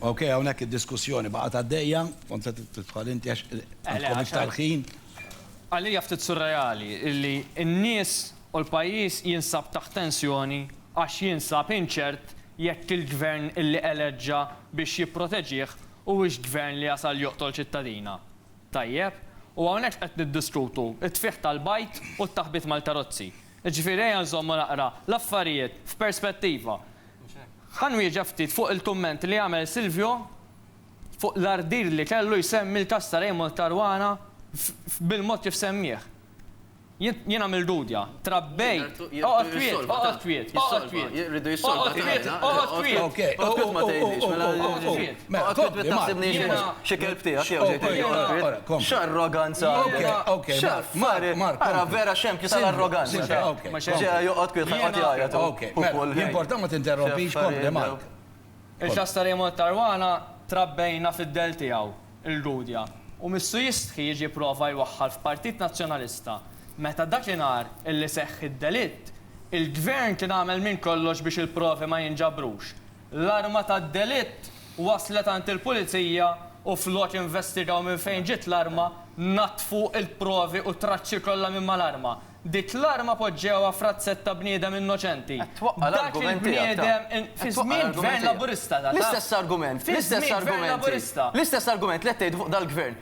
Ok, hawnhekk id-diskussjoni baqgħet għaddejja, kont se tidħol inti għax għandkom iktar ħin. Għalija ftit surreali illi n-nies u l-pajjiż jinsab taħt tensjoni għax jinsab inċert jekk il-Gvern illi eleġġa biex jipproteġih huwiex Gvern li jasal joqtol ċittadina. Tajjeb? U hawnhekk qed niddiskutu t-tfigħ tal-bajd u t-taħbit mal-karozzi. Jiġifieri ejja nżommu naqra l-affarijiet f'perspettiva. Ħa nwieġeb ftit fuq il-kumment li għamel Silvio fuq l-ardir li kellu jsemmi l-każ ta' Raymond Caruana bil-mod kif semmieh. Jien jiena mil Gudja. Trabbejt. Oqgħod kwiet, oqgħod kwiet, oqgħod kwiet. Oqgħod kwiet, oqgħod kwiet. Oqgħod kwiet, ma tgħidlix. Oqgħod kwiet. Mela, kompli, Mark. Xi kelb tiegħek jew ġej tgħidli. X'arroganza għandek. X'affari. Ara vera xempju tal-arroganza. Ġej joqgħod kwiet ħa joqgħod jgħajjat hu. Okej, okej. L-importa ma tinterrompix, kompli, Mark. Il-ċasta li jmorr Caruana trabbejna fid-dell tiegħu, il-Gudja, u missu jistħi jiġi jipprova jwaħħal f'Partit Nazzjonalista. Meta dakinhar illi seħħ id-delitt, il-Gvern kien għamel minn kollox biex il-provi ma jinġabrux. L-arma tad-delitt waslet għand il-Pulizija u flok jinvestigaw minn fejn ġiet l-arma, naddfu l-provi u t-traċċi kollha minn mal-arma. Dik l-arma poġġewha f'razzett ta' bniedem innoċenti. Dak il-bniedem fi żmien Gvern Laburista ta' dan. L-istess argument, l-istess argumenti, l-istess argument li qed tgħidu fuq dal-Gvern.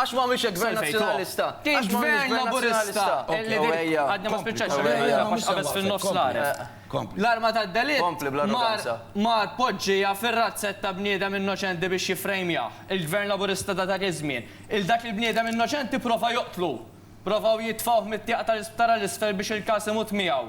Għax m'hawnx hekk Gvern Nazzjonalista. Għax m'hawnx Gvern Laburista. Għadni ma spiċċajtx il-kelma tiegħek għax qabeżt fin-nofs l-għareb. L-arma tad-delitt ma tpoġġiha fir-razzett ta' bniedem innoċenti biex jiffrejmjah. Il-Gvern Laburista ta' dak iż-żmien, 'il dak il-bniedem innoċenti pprova joqtlu. Provaw jitfgħuh mit-tieqa tal-isptar għal isfel biex il-każ imut miegħu.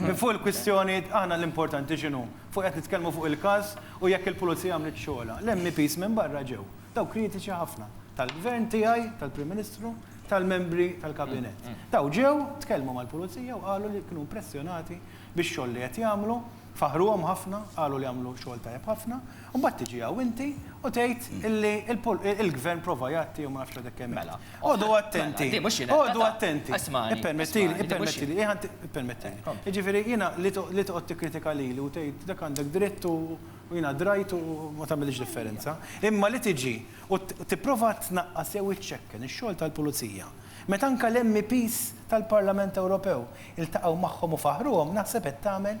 Minn fuq il-kwistjoni aħna l-importanti x'inhu? Fuq qed nitkellmu fuq il-każ u jekk il-Pulizija għamlitx xogħolha. L-MEPs minn barra ġew. Daw kritiċi ħafna. Tal-Gvern tiegħi, tal-Prim Ministru, tal-membri tal-Kabinett. Daw ġew, tkellmu mal-Pulizija u qalu li kienu impressjonati bix-xogħol li qed jagħmlu, faħħruhom ħafna, qalu li għamlu xogħol tajjeb ħafna. U mbagħad tiġi hawn inti u tgħid illi l-Gvern prova jgħatti u ma nafx għadek kemm għedt. Oqogħdu attenti. Di mhux jiena. Oqogħdu attenti. Ismagħni. Ippermettili, ippermettili. Iħa inti, ippermettili. Jiġifieri jiena li toqgħod tikkritika lili u tgħid dak għandek dritt u jiena drajt u ma tagħmilx differenza. Imma li tiġi u tipprova tnaqqas jew iċċekken ix-xogħol tal-Pulizija meta anke l-MEPs tal-Parlament Ewropew iltaqgħu magħhom u faħħruhom naħseb qed tagħmel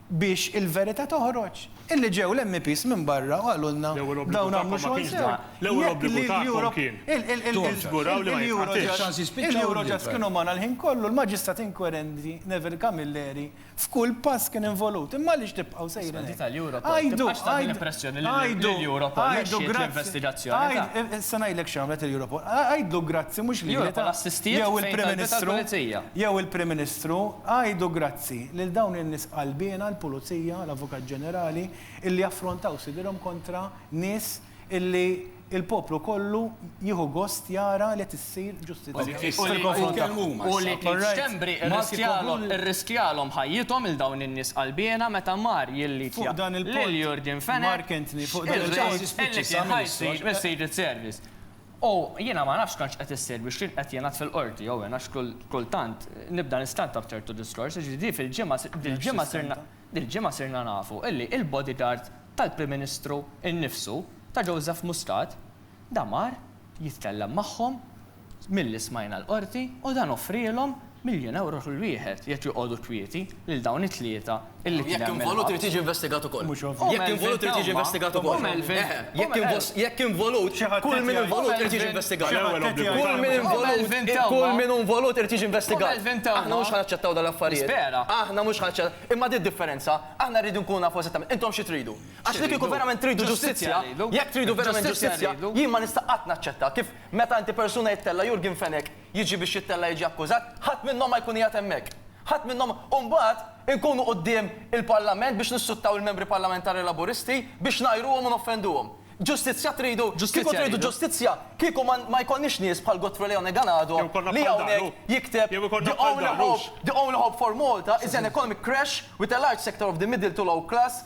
Biex il-verita toħroġ. Illi ġew l-MEPs minn barra u qalulna dawn għamlu xogħol sew. L-ewwel obbligu tagħkom kien tiżguraw li ma jitqatilx. Il-Eurojust kienu magħna l-ħin kollu, l-Maġistrat Inkwerenti Neville Camilleri f'kull pass kien involut. Imma għaliex tibqgħu sejrin hekk? Għajdu, għajdu, għajdu grazzi. Issa ngħidlek x'għamlet il-Europol. Għajdlu grazzi mhux lili jew il-Prim Ministru, jew il-Prim Ministru, għajdu grazzi. Grazzi lil dawn in-nies qalbiena, l-Pulizija, l-Avukat Ġenerali, illi affrontaw sidirhom kontra nies illi l-poplu kollu jieħu gost jara li qed issir ġustizzja fil-konfront tagħhom. U li kien Schembri rriskjalhom ħajjithom lil dawn in-nies qalbiena meta mar jilliġja lil Yorgen Fenech, ir-Re illi kien ħa jsir is-Secret Service. U jiena ma nafx kemm x'qed issir biex jien qed jingħad fil-Qorti jew in għax kultant nibda nistanta b'ċertu diskors, jiġifieri di fil-ġimgħa dil-ġimgħa sirna dil-ġimgħa sirna nafu illi il-bodyguard tal-Prim Ministru innifsu ta' Joseph Muscat da mar jitkellem magħhom milli smajna l-Qorti u dan offrielhom Miljun ewro kull wieħed, jekk joqogħdu kwieti, lil dawn it-tlieta illi kien hemm il-ħabs. Jekk involut irid jiġi investigat ukoll. Mhux ovvju. Jekk involut irid jiġi investigat ukoll. U Melvin. Eħe. Jekk involut, kull min involut irid jiġi investigat. Kull min involut, kull min hu involut irid jiġi investigat. U Melvin tewwma. Aħna mhux ħa naċċettaw dawn l-affarijiet. Nispera. Aħna mhux ħa naċċettaw. Imma din id-differenza, aħna rridu nkunu nafu eżattament intom xi tridu. Għax li kieku verament tridu ġustizzja, jekk tridu verament ġustizzja, jien ma nista' qatt naċċetta kif meta inti persuna jittella' Yorgen Fenech, jiġi biex jittella' jiġi akkużat, ħadd minnhom ma jkun qiegħed hemmhekk. Ħadd minnhom, u mbagħad inkunu quddiem il-Parlament biex nissuttaw il-Membri Parlamentari Laburisti biex ngħajruhom u noffenduhom. Ġustizzja tridu? Kieku tridu ġustizzja, kieku ma jkollniex nies bħal Godfrey Leone Ganado li hawnhekk jikteb The only hope, the only hope for Malta is an economic crash with a large sector of the middle to low class,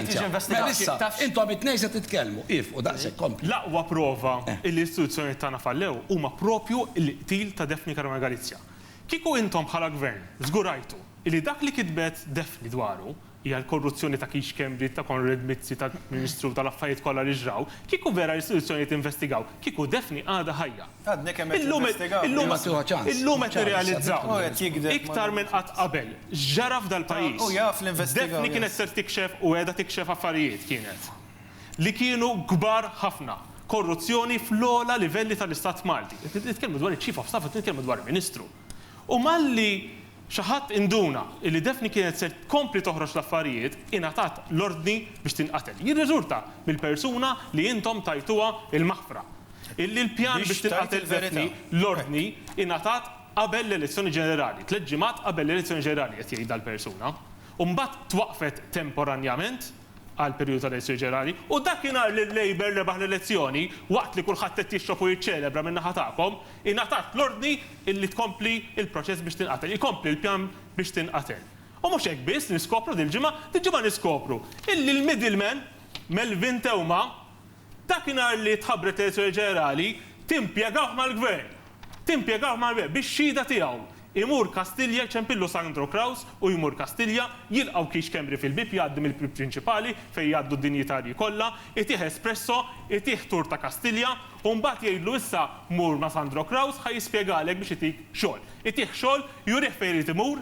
tiġi investigata. Mela issa, intom it-tnejn se titkellmu. Iefqu daqshekk, kompli. L-aqwa prova li l-istituzzjonijiet tagħna fallew huma proprju l-qtil ta' Daphne Caruana Galizia. Kieku intom bħala Gvern żgurajtu li dak li kitbet Daphne dwaru hija l-korruzzjoni ta' Keith Schembri, ta' Konrad Mizzi, tal-Prim Ministru, tal-affarijiet kollha li ġraw, kieku vera l-istituzzjonijiet investigaw, kieku Daphne għadha ħajja. Illum qed nirrealizzaw iktar minn qatt qabel x'ġara f'dal-pajjiż. Daphne kienet ser tikxef u qiegħda tikxef affarijiet kienet li kienu kbar ħafna. Korruzzjoni fl-ogħla livelli tal-Istat Malti. Qed nitkellmu dwar iċ-Chief of Staff, qed nitkellmu dwar Ministru. U malli xi ħadd induna illi Daphne kienet ser tkompli toħroġ l-affarijiet, ingħatat l-ordni biex tinqatel. Jirriżulta mill-persuna li intom tajtuha l-maħfra, illi l-pjan biex tinqatel Daphne, l-ordni ingħatat qabel l-elezzjoni ġenerali, tliet ġimgħat qabel l-elezzjoni ġenerali, qed jgħid dal-persuna, u mbagħad twaqqfet temporanjament. għall-perjodu tal-elezzjoni ġenerali, u dakinhar li l-Labour rebaħ l-elezzjoni, waqt li kulħadd qed jixrob u jiċċelebra min-naħa tagħkom, ingħatat l-ordni li tkompli l-proċess biex tinqatel, ikompli l-pjan biex tinqatel. U mhux hekk biss, niskopru dil-ġimgħa, dil-ġimgħa niskopru illi l-middleman, Melvin Theuma, Dakinhar li tħabbret l-Elezzjoni Ġenerali, timpjegawh mal-Gvern. Timpjegawh mal-Gvern biex xhieda tiegħu. Imur Kastilja jċempillu Sandro Craus u jmur Kastilja, jilqgħu Keith Schembri fil-bieb, jgħaddi mill-bieb prinċipali fejn jgħaddu d-dinjitarji kollha, itih espresso, itih tour ta' Kastilja u mbagħad jgħidlu issa mur ma' Sandro Craus ħa jispjegalek biex itik xogħol. Itih xogħol, jurih fejn irid imur,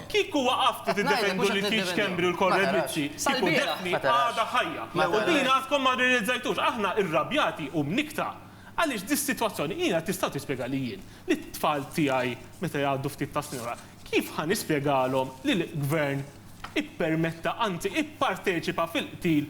Kieku waqaftu tiddefendu lil Keith Schembri u l-Konrad Mizzi, kieku Daphne għadha ħajja. U din għadkom ma rrealizzajtux. Aħna irrabjati u mnikkta għaliex dis-sitwazzjoni jiena tistgħu tispjegalli jien, lit-tfal tiegħi meta jgħaddu ftit tas-snin wara, kif ħa nispjegalhom li l-Gvern ippermetta, anzi ipparteċipa fil-qtil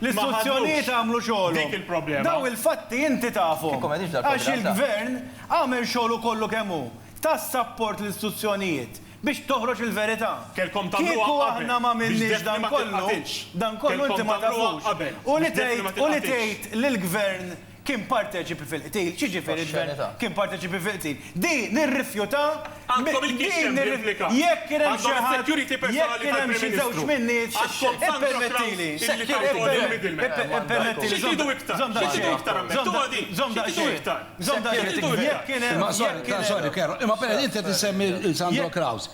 L-istituzzjonijiet għamlu xogħolhom. Dawn il-fatti inti tafhom. Għax il-Gvern għamel xogħlu kollu kemm hu. Ta s-sapport lill-istituzzjonijiet biex toħroġ il-verità. Kieku aħna m'għamilniex dan kollu, dan kollu inti ma tafux. U li tgħid, u li tgħid li l-Gvern kien parteċipi fil-qtil. X'jiġifieri d-dwell kien parteċipi fil-qtil? Di nirrifjuta, di jekk kien hemm xi ħadd, jekk kien hemm xi żewġ min-nies, ippermettili, ippermettili, żomm daqsxejn, żomm daqsxejn, żomm daqsxejn, jekk kien hemm, jekk kien hemm. Sorry, sorry, Kerro, imma pereż inti qed issemmi lil Sandro Kraus.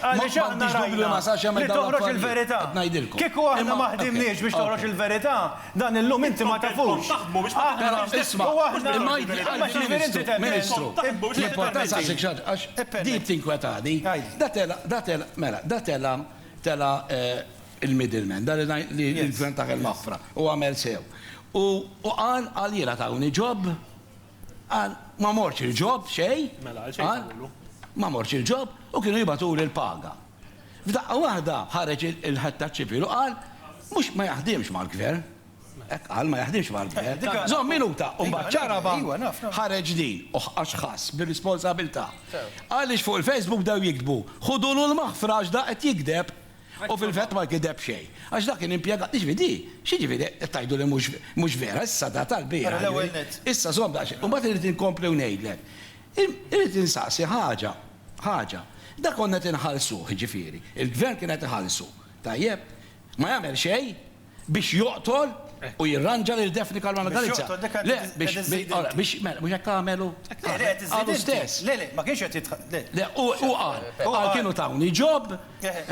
Għaliex aħna rajna li toħroġ il-verità. Kieku aħna ma ħdimniex biex toħroġ il-verità, dan illum inti ma tafux. Aħna u aħna. Imma x'jiġifieri inti temmen? Ministru, l-importanza saqsejk xi ħaġa għax din tinkwetani. Da tela', da tela', mela, da tela', tela' il-middle man, dan li l-Gvern ta' Ħal Mafra, u għamel sew. U qal għaliela tawni job? Qal, Ma mortx il-ġob, xejn. Mela, għal xejn tawwlu? Ma mortx il-ġob u kienu jibatuli l-paga. F'daqqa waħda ħareġ il-ħattax ċivil u qal, Mhux, ma jaħdimx mal-Gvern. Hekk qal, ma jaħdimx mal-Gvern. Żomm minuta, u mbagħad ċaraba ħareġ din, u għax ħass bir-responsabilità. Għaliex fuq il-Facebook bdew jiktbu, Ħudulu l-maħfra għax da qed jigdeb. U fil-vett ma gideb xejn. Għax dak kien impjegat, jiġifieri di, x'jiġifieri qed tgħidu li mhux mhux vera, issa da tal-bieraħ jiġifieri, issa żomm daqsxejn. U mbagħad irrid inkompli u ngħidlek. Irrid insaqsi ħaġa, ħaġa. Da konna qed inħallsuh jiġifieri, il-Gvern kien qed iħallsu, tajjeb? Ma jagħmel xejn? Biex joqtol u jirranġa lil Daphne Caruana Galizia. Le, biex, ara, biex, mela, mhux hekk għamel hu? Qal hu stess. Le, le, ma kienx qed jitħ-. Le, le, hu, hu qal. Qal kienu tawni job.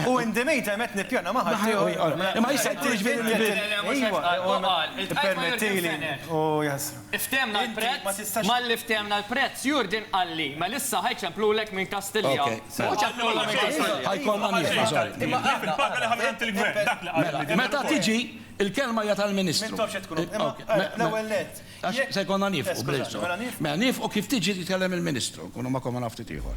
U in the mean time qed nippjana ma' ħadd ieħor. Imma issa jkun jiġifieri li. Ejwa, hu qal. Ippermettili, u jasra. Ftehmna l-prezz, malli ftehmna l-prezz, Jurgen qalli, mela issa ħa jċemplulek minn Kastilja. Hu ċemplulha minn Kastilja. Imma dak il-paga li ħa minn għand il-Gvern, dak li qal. Mela, meta tiġi, il-kelma hija tal-Ministru. M'intofx qed tkun. Imma l-ewwel nett. Għax se jkollna niefqu, please. Mela niefqu kif tiġi titkellem il-Ministru, nkunu magħkom għal ftit ieħor.